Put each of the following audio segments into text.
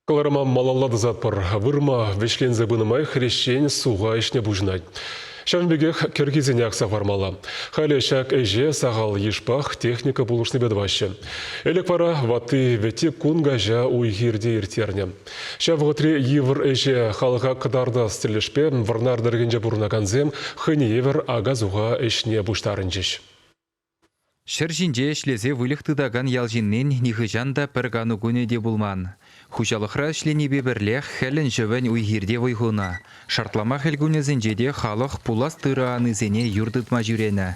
Кӑларӑма малалла тӑсатпӑр. Вырма вӗҫленсе пынӑ май хресчен суха ӗҫне пуҫӑнать. Ҫавӑн пекех кӗркисене акса хӑвармалла. Халӗ ҫак ӗҫе сахал йышпах техника пулӑшнипе тӑваҫҫӗ. Ӗлӗк вара ватти-вӗтти кун каҫа уй-хирте ирттернӗ. Ҫав вӑхӑтри йывӑр ӗҫе халӑха кӑтартас тӗлӗшпе Вӑрнар тӑрӑхӗнче пурӑнакансем хӑйне евӗр ака-суха ӗҫне пуҫтарӑнчӗҫ. Ҫӗр ҫинче ӗҫлесе выльӑх тытакан ял ҫыннин нихӑҫан та пӗр кану кунӗ те пулман. Хуҫалӑхра ӗҫленипе пӗрлех хӗлӗн-ҫӑвӗн уй-хир те вӑй хунӑ. Шартлама хӗл кунӗсенче те халӑх пулас тырӑ анисене юр тытма ҫӳренӗ.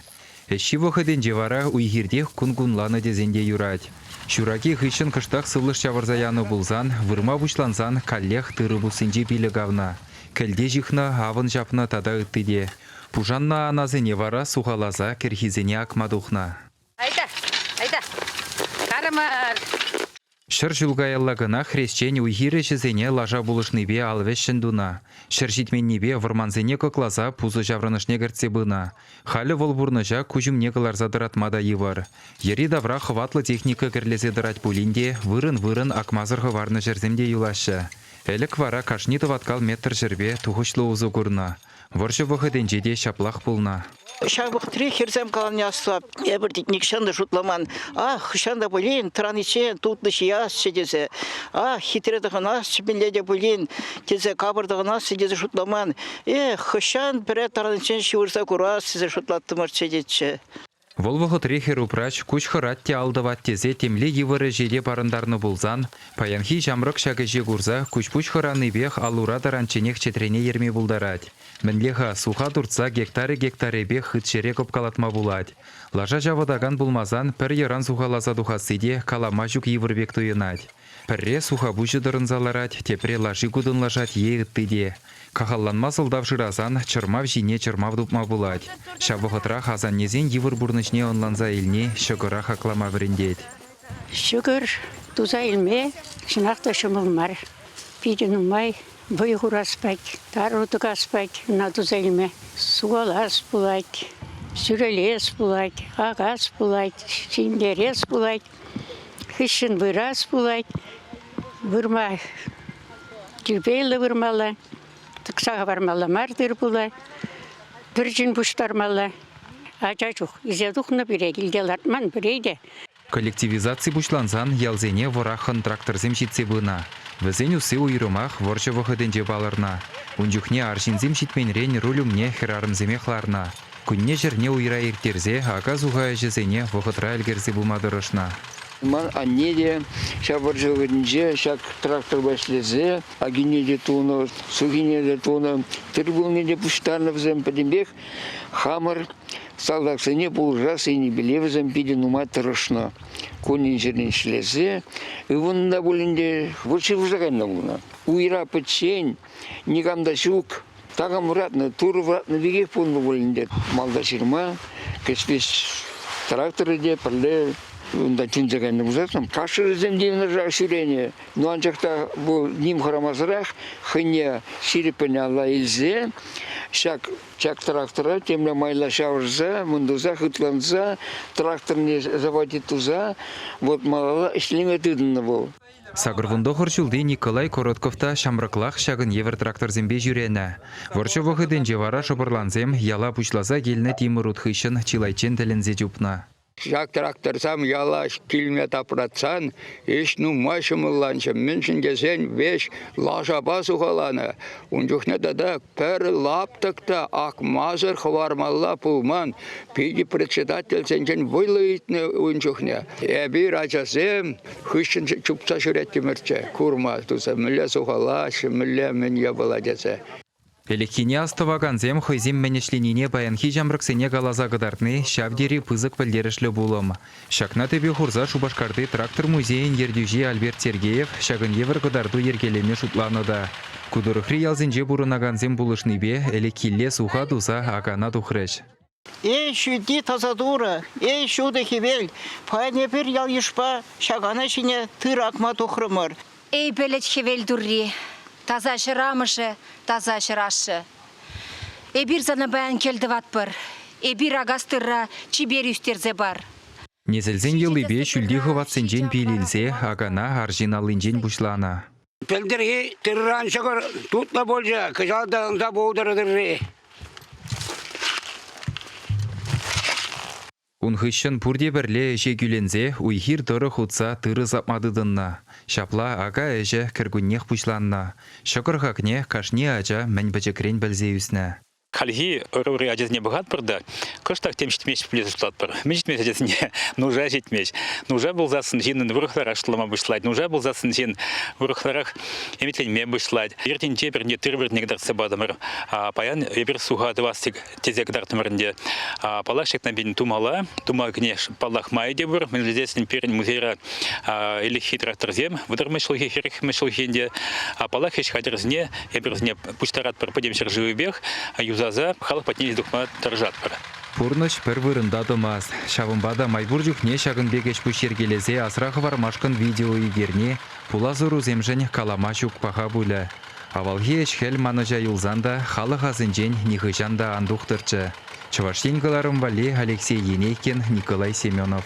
Ӗҫҫи вӑхӑтӗнче вара уй-хиртех кун кунланӑ тесен те юрать. Ҫураки хыҫҫӑн кӑштах сывлӑш ҫавӑрса янӑ пулсан, вырма пуҫлансан каллех тырӑ пуссинчи пилӗк авнӑ, кӗлте ҫыхнӑ, авӑн ҫапнӑ тата ытти те. Пушаннӑ анасене вара сухаласа кӗрхисене акма тухнӑ. Айта, айта, карамар! Ҫӗр ҫул каялла кӑна хресчен уй-хир ӗҫӗсене лаша пулӑшнипе ал вӗҫҫӗн тунӑ, ҫӗр ҫитменнипе вӑрмансене кӑкласа пусӑ ҫаврӑнӑшне кӗртсе пынӑ. Халӗ вӑл пурнӑҫа куҫ умне кӑларса тӑратма та йывӑр. Йӗри-тавра хӑватлӑ техника кӗрлесе тӑрать пулин те вырӑн-вырӑн акмасӑр хӑварнӑ ҫӗрсем те юлаҫҫӗ. Ӗлӗк вара кашни тӑваткал метр ҫӗрпе тухӑҫлӑ усӑ курнӑ, Вӑрҫӑ вӑхӑтӗнче те ҫаплах пулнӑ. Ҫав вӑхӑтри хӗрсем каланӑ аслӑ эпӗр тет нихҫан та шутламан. Ах, хӑҫан та пулин тӑраниччен тутлӑ ҫиасчӗ тесе, ах, хитре тӑхӑнасчӗ мӗнле те пулин тесе капӑр тӑхӑнасчӗ тесе шутламан. Эх, хӑҫан пӗрре тӑраниччен ҫывӑрса курас тесе шутлаттӑмӑрччӗ тетчӗ. Вӑл вӑхӑтри хӗр-упраҫ куҫ хӑрать те ал тӑвать тесе темле йывӑр ӗҫе те парӑнтарнӑ пулсан, паянхи ҫамрӑк ҫак ӗҫе курса куҫ-пуҫ хӑранипех ал-ура таранчченех чӗтрене ерме пултарать. Мӗнле-ха, суха туртса гектарӗ-гектарӗпех хыт ҫӗре кӑпкалатма пулать. Лаша ҫавӑтакан пулмасан пӗр йӑран сухаласа тухасси те калама ҫук йывӑр пек туйӑнать. Пӗрре сухапуҫӗ тӑрӑнса ларать, тепре лаши кутӑнлашать е ытти те. Кахалланма сӑлтав шырасан чӑрмав ҫине чӑрмав тупма пулать. Ҫав вӑхӑтрах асаннесен йывӑр пурнӑҫне ӑнланса илни ҫӑкӑра хаклама вӗрентет. Ҫӑкӑр туса илме чӑнах та ҫӑмӑл мар. Питӗ нумай вӑй хурас пать, тару тӑкас пать ӑна туса илме. Сухалас пулать, сӳрелес пулать, акас пулать, ҫӗнтерес пулать. Хыҫҫӑн вырас пулать, вырма тирпейлӗ вырмалла, тӑкса хӑвармалла мар тыр-пула, пӗрчӗн пуҫтармалла. Ача чух ӳсе тухнӑ пире килте лартман пире те. Коллективизаци пуҫлансан ялсене вӑраххӑн тракторсем ҫитсе пынӑ. Вӗсен усси уйрӑмах вӑрҫӑ вӑхӑтӗнче палӑрнӑ. Ун чухне арҫынсем ҫитменрен руль умне хӗрарӑмсемех ларнӑ. Кунне-ҫӗрне уйра ирттерсе ака-суха ӗҫӗсене вӑхӑтра ӗлкӗрсе пыма тӑрӑшнӑ. Ман анне те ҫав вӑрҫӑ-хӗрӗнче ҫак тракторпа ӗҫлесе акине те тунӑ, сухине те тунӑ, тыр пулне те пуҫтарнӑ вӗсем. Пӗтӗмпех хамӑр салтаксене пулӑшас енӗпеле вӗсем питӗ нумай тӑрӑшнӑ. Кунӗн-ҫӗрӗн ӗҫлесе ывӑннӑ та пулин те вӑт ҫывӑрса кайнӑ пулнӑ. Уйра пӗччен, никам та ҫук. такам вӑратнӑ, турӑ вӑратнӑ пекех пулнӑ пулин те малта ҫырма кӗҫлеш тракторӗ те пӗрле унта тӗнче кайнӑ пулсассӑн кашӑрӗсем те ҫӳренӗ. Ну анчах та bu ним хӑрамасӑрах хӑйне ҫирӗппӗн алла илсе ҫак ҫак трактора темле майла ҫавӑрса, мӑндӑрса, хытланса тракторне заводить туса вот малалла ӗҫлеме тытӑннӑ вӑл. Сакӑрвун тӑхӑр ҫулти Николай Коротков та ҫамрӑклах ҫакӑн евӗр тракторсемпе ҫӳренӗ. Вӑрҫӑ вӑхӑтӗнче вара шӑпӑрлансем яла пуҫласа килнӗ тимӗр ут хыҫҫӑн чылайччен тӗлӗнсе чупнӑ. Ҫак тракторсем яла килме тапратсан ӗҫ нумай ҫӑмӑлланчӗ, мӗншӗн тесен веҫ лашапа сухаланӑ. Ун чухне тата пӗр лаптӑк та акмасӑр хӑвармалла пулман. Питӗ председательсенчен вӑйлӑ ыйтнӑ ун чухне. Эпир ачасем Хыҫҫӑн чупса ҫӳрет тимӗрчче, курма туса мӗнле сухалаҫҫӗ, мӗнле мӗн япала тесе. Ӗлӗкхине астӑвакансем хӑйсем мӗн ӗҫленине паянхи ҫамрӑксене каласа кӑтартни ҫав тери пысӑк пӗлтерӗшлӗ пулӑм. Ҫакна тӗпе хурса Шупашкарти трактор музейӗн ертӳҫи Альберт Сергеев ҫакӑн евӗр кӑтарту йӗркелеме шутланӑ та. Ку тӑрӑхри ялсенче пурӑнакансем пулӑшнипе ӗлӗкхилле суха туса акана тухрӗҫ. Эй, ҫӳлти таса Турӑ, эй, ҫутӑ хӗвел, паян эпир ял-йышпа ҫакана ҫине тыр акма тухрӑмӑр. Эй, пӗлӗт хӗвел турри, таса ҫӗр амӑшӗ, таса ҫӗр ашшӗ, эпир сана паян кӗлтӑватпӑр, эпир акас тырра чипер ӳстерсе пар. Несӗлсен йӑлипе ҫӳлти хӑватсенчен пил илсе акана арҫын аллинчен пуҫланӑ. Пӗлтӗрхи тырран ҫӑкӑр тутлӑ пулчӗ, кӑҫал та ӑнса пултӑр тырри. Ун хыҫҫӑн пурте пӗрле ӗҫе кӳленсе уй-хир тӑрӑх утса тырӑ сапма тытӑннӑ. Ҫапла ака-ӗҫӗ кӗркуннех пуҫланнӑ. Ҫӑкӑр хакне кашни ача мӗн пӗчӗкрен пӗлсе ӳснӗ. Хальхи ӑрури ачасене пӑхатпӑр та кӑштах тем ҫитмест пулес шутлатпӑр. Мӗн ҫитмест ачасене? Нуша ҫитмест. Нуша пулсассӑн ҫыннӑн вӑрӑхларах шутлама пуҫлать. Нуша пулсассӑн ҫын вӑрӑхларах ӗмӗтленме пуҫлать. Иртинче пӗрне тыр-пӗрне кӑтартса патӑмӑр. Паян эпир суха тӑвас тесе кӑтартрӑмӑр ӗнтӗ. Паллах, ҫакна пин тумала. Тума кӗне паллах май те пур. Мӗн пӗлсен пирӗн музейра ӗлӗкхи тракторсем вӑтӑрмӗш ҫулхи, хӗрӗхмӗш ҫулхи ӗнтӗ. Паллах, ӗҫ хатӗрӗсене эпир вӗсене пуҫтаратпӑр пӗтӗм ҫӗршывӗпех, юсаса халӑх патне илсе тухма тӑрӑшатпӑр. Пурнӑҫ пӗр вырӑнта тӑмасть. Ҫавӑнпа та май пур чухне ҫакӑн пек ӗҫ-пуҫ йӗркелесе асра хӑвармашкӑн видео ӳкерни пулас ӑрусемшӗн калама ҫук паха пулӗ. Авалхи ӗҫ-хӗл манӑҫа юлсан та халӑх асӗнчен нихӑҫан та ан тухтӑрччӗ, Чӑваш Ен кӑларӑм валли Алексей Енейкин, Николай Семенов.